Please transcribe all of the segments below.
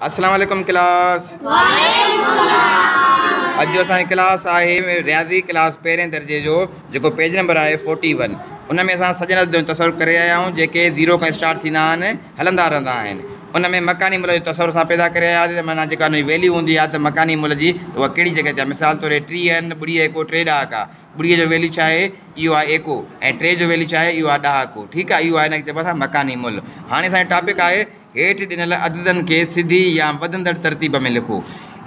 اسلام عليڪم ڪلاس وعليڪم السلام اڄ جو اسان جي ڪلاس آهي رياضي ڪلاس پهرين درجي جو جيڪو پيج نمبر آهي 41 ان ۾ اسان سڄن عددن جو تصور ڪري آيا آهيون جيڪي زيرو کان اسٽارٽ ٿيندا آهن هلندا رهندا آهن ان ۾ مڪاني ملهه جو تصور اسان پيدا ڪري آيا آهي معنيٰ جيڪا ان جي ويليو هوندي آهي ته مڪاني ملهه جي اها ڪهڙي جڳهه تي آهي مثال طور هي ٽيهه آهن ٻڙي ايڪو ٽي ڏهاڪا ٻڙي جو ويليو ڇا آهي اهو آهي ايڪو ۽ ٽي جو ويليو ڇا آهي اهو آهي ڏهاڪو ٺيڪ آهي اهو آهي ان کي چئبو آهي اسان مڪاني ملهه هاڻي اسان جو ٽاپڪ آهي هيٺ ڏنل عددن کي سڌي يا وڌندڙ ترتيب ۾ لکو.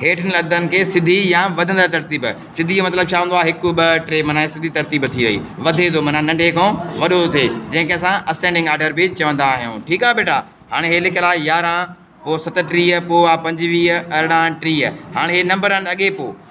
هيٺ ڏنل عددن کي سڌي يا وڌندڙ ترتيب، سڌي جو مطلب ڇا هوندو آهي؟ هڪ، ٻه، ٽي معنيٰ هي سڌي ترتيب ٿي وئي. وڌي ٿو معنيٰ ننڍي کان وڏو ٿو ٿئي، جنهن کي اسان اسينڊنگ آرڊر به چوندا آهيون. ٺيڪ آهي ٻيٽا. هاڻي هي لکيل آهي يارهن، پوء ستٽيهه، پوء آهي پنجويهه، ارڙهن، ٽيهه. هاڻي هي نمبر آهن اڳي پوء.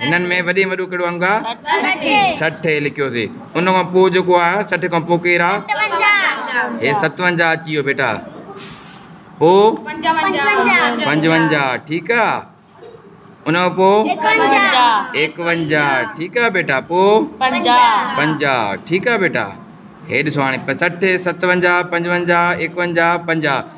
هنن ۾ وڏي ۾ وڏو ڪهڙو انگ آ؟ سٺ هي لکيوسي ان کان پوء جيڪو آ سٺ کان پوء ڪير آ؟ هي ستونجاهه اچي ويو بيٽا پوء پنجونجاهه ٺيڪ آ ان کان پوء ايڪونجاهه ٺيڪ آ بيٽا پوء پنجاهه ٺيڪ آ بيٽا هي ڏسو هاڻي سٺ ستونجاهه پنجونجاهه ايڪونجاهه پنجاهه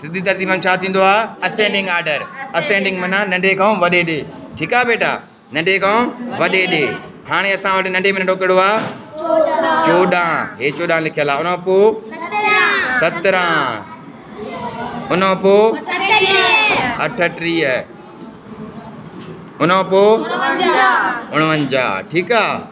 سڌي ترتيب مان ڇا ٿيندو آ اسينڊنگ آرڊر اسينڊنگ معنيٰ ننڍي کان وڏي ڏي ٺيڪ آ بيٽا ننڍي کان وڏي ڏي هاڻي اسان وٽ ننڍي ۾ ننڍو ڪهڙو آ چوڏهن هي چوڏهن لکيل آ ان پو سترهن ان پو اٺٽيهه ان پو اڻونجاهه ٺيڪ آ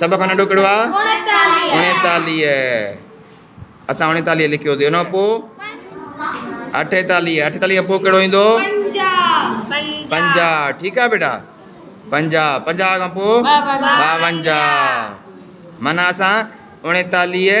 سڀ کان ننڍو ڪهڙو آهي اڻيتاليهه اسان اڻيتاليهه لکيوسي ان کان پوء اٺيتاليهه اٺيتاليهه کان پوء کان ڪهڙو پنجاهه ٺيڪ آهي بيٽا پنجاهه پنجاهه کان پوء ٻاونجاهه مانا اسان اڻيتاليهه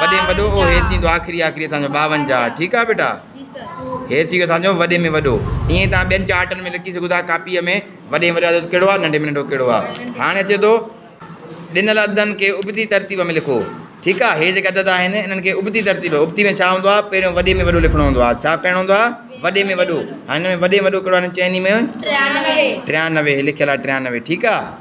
وڏي ۾ وڏو او هير ٿيندو آخري آخري اسان جو ٻاونجاهه ٺيڪ آ بيٽا هير ٿي ويو اسان جو وڏي ۾ وڏو ائين تان ٻين چارٽن ۾ لکي سگهو ٿا ڪاپيء ۾ وڏي ۾ وڏو عدد ڪهڙو آ ننڍي ۾ ننڍو ڪهڙو آ هاڻي اچي ٿو ڏنل عددن کي ابتي ترتيب ۾ لکو ٺيڪ آ هي جيڪي عدد آهن انهن کي ابتي ترتيب ابتي ۾ ڇا هوندو آ پهريون وڏي ۾ وڏو لکڻو هوندو آ ڇا پهريون هوندو آ وڏي ۾ وڏو هاڻي هن ۾ وڏي ۾ وڏو ڪهڙو آ هن چئني ۾ ٽيانوي ٽيانوي هي لکيل آ ٽيانوي ٺيڪ آ